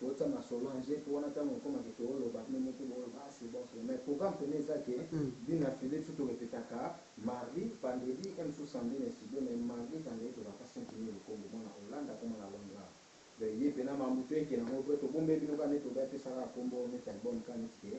Botsa masolo en jeu po wana tangu ekoma ke to loba bino moko bo loba ah c'est bon c'est bon mais programme pene eza ke bino na Felix tout to repetaka mardi, vendredi et mosusu samedi na studio mais mardi, vendredi to zalaka saint Denis Lukombo mwana Hollande akoma na Londra donc ye pena mambu to yekela ngo vrai to bombeli bino kaka neti loba ye pe sala kombo neti album kaka neti ke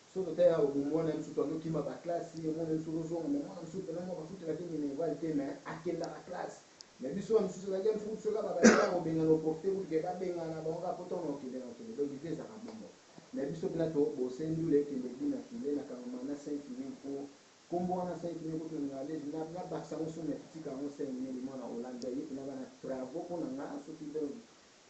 Soki tata ya Ogo muana ya misutu azo kima ba classe ye muana ya misutu azo zonga mais muana misutu penza muaka futela ki minerval te mais akendaka classe mais biso ba misusu ezalaki ya misutu soki kaka ba tata yako bengana o profite kutu ke ba bengana bango kaka po tango nako kende nako kende donc vie ezalaka bongo mais biso penza to bose ndule kende du na filet na kangama na saint filine po kombo wana saint filine kutu na ningaka lezi na na bakisa yango soni mais totika yango saint minene muana olanza ye penza aza na travaux pona nga soki donc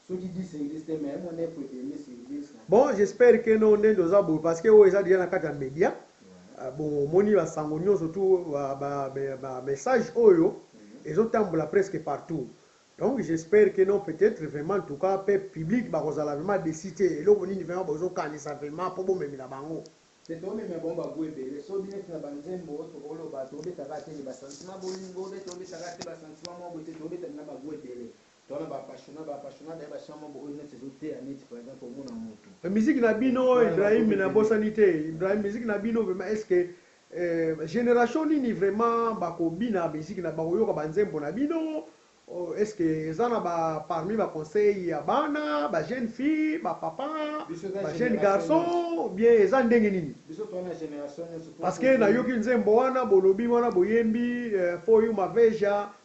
Soki dix sur dix te mais au moins neuf et demi sur dix na. Bon j'espère que non ndende oza boye parce que oyo eza dejà na kati ya media bon omoni ba sango nionso tout ba message oyo ezo tambola presque partout donc j'espère que non peut etre vraiment en tout cas pe public bako zala vraiment deçu te eloko nini vraiment bozo kanisa vraiment po bo memela bango te to memela bango ba gout ebele so bino pe na ba nzembo toko loba to beta ka te mais ba sentiment bolingo obeta obeta ka te ba sentiment moko boye te to beta na ba gout ebele. To wana ba apassiona ba apassiona d'ailleurs ba chant moko oyo neti ezo teya neti par exemple omona mutu. Mais musique na bino Ibrahim na bosani te Ibrahim musique na bino vraiment est ce que euh generation nini vraiment bako bina musique na bako yoka ba nzembo na bino est ce que eza na ba parmi ba conseil ya bana ba jeune fille ba papa ba jeune garçon ou bien eza ndenge nini parce que na yoki nzembo wana bolobi wana boyembi for you maveja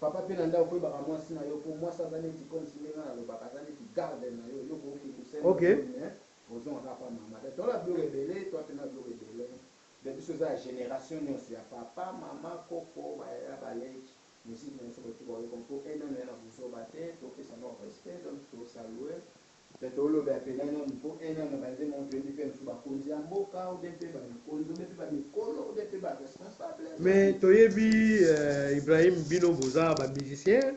Papa pe na ndako ko yebaka mwasi na yo po mwasi aza neti comme si ndenge na lobaka aza neti garde na yo yo ko oki ko senga Okay. soni mais o zonga kaka pa mama donc toza na biloko ebele toi pe na biloko ebele donc biso eza ya generation nionso ya papa mama koko ba yaya ba leki musique na biso ko tika ko yokama po un homme ya na buzoba te to pesa bango respect donc to salue Mpe toloba ya pene nanu mpo ena na ba nzembo yango toyebi mpe mosusu ba konzi ya mboka ou bien mpe ba mikonzi ou bien mpe ba mikolo ou bien mpe ba responsable ya Mais site. toyebi eh, Ibrahim bino boza ba musiciens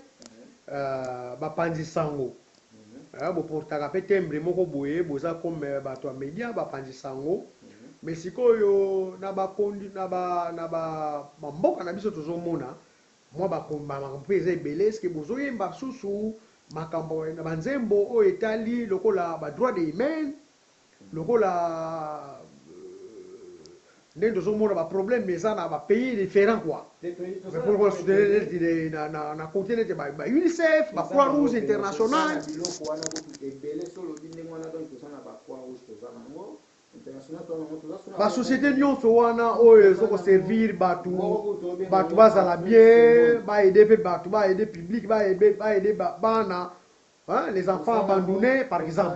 eh, ba panzi sango eh, bo portaka mpe timbre moko boye boza comme batu ya media ba panzi sango mais sikoyo na ba condi, na ba, na ba, ba mboka na biso tozo mona Mwa ba komba makambo pe eza ebele est ce que bozo yemba susu makambo na ba nzembo oyo etali lokola ba droit de humaine lokola ndenge tozo mona ba problème eza na ba pays different quoi mais po lokola soutenir neti na na na cote neti ba ba UNICEF ba croix rouge international. Biloko wana kutu ebele soki olobi ndenge wana donc toza na ba croix rouge toza na ngo Ba societe nionso wana oyo ezo ko servir batu batu bazala bien ba aide pe batu ba aide public ba aide bana les enfants abandonne par exemple.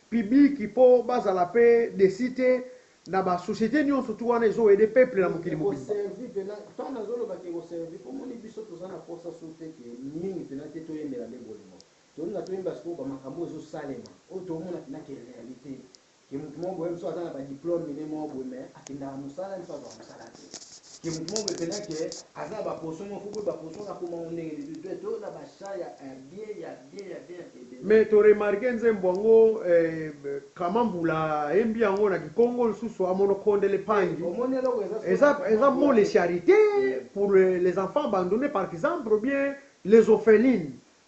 public po bazala pe deci te na ba societe nionso tu wana ezo aide peuple na mokili mobimba. Ekoservi pena tant nazo loba ke ekoservi po moni biso toza na posa sur te ke mingi pena te toyembela nde bolingo tolinga toyemba sikoyo ba makambo oyo ezo salema oyo tomona pena ke realite ke mutu moko boye mosusu aza na ba diplome mine moko boye mais akendaka musala nso azua musala te que mutu moko boye penza que aza na ba potion moko faut boye ba potion wana akoma ngo ndenge nini bible to na ba chant ya un bien ya bien ya bien ebele. Mais to remarquer nzembo yango eh, Clement Mbula ayembi yango na kikongo lisusu a monoko de l'epangi eza eza mot les charite pour les enfants abandonne par exemple ou bien les ophelines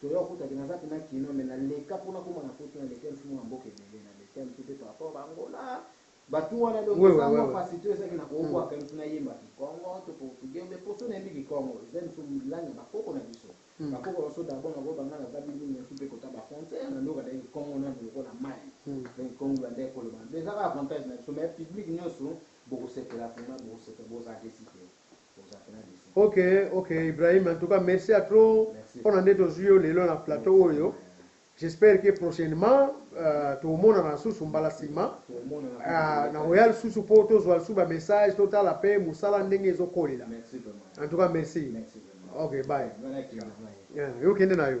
Toya kuta ke naza pena kinois mais na leka po nakoma na poto na leka lisusu mona mboka ebele na leka lisusu pe par rapport ba angola batu wana donc eza mua pasi to eza ke na koko aka lisusu na yemba kikongo to portugais ou bien po soki na yembi kikongo eza lisusu langue ya ba koko na biso ba koko na biso d'abord na loba nga naza bini na supe kota ba frontière na nioka nde kikongo nanu lokola mayi donc kikongo ba nde koloba eza ka avantage na biso mais public nioso boko sepela vraiment boko sepela bo za desi te. Ok ok Ibrahim en tout cas merci à trop pona ndeti ozui yo lelo na plateau oyo j'espère que prochainement tokomonana lisusu mbala sima nakoya lisusu po tozua lisusu ba message totala pe musala ndenge ezo kolela en tout cas merci ok bye yo kende na yo.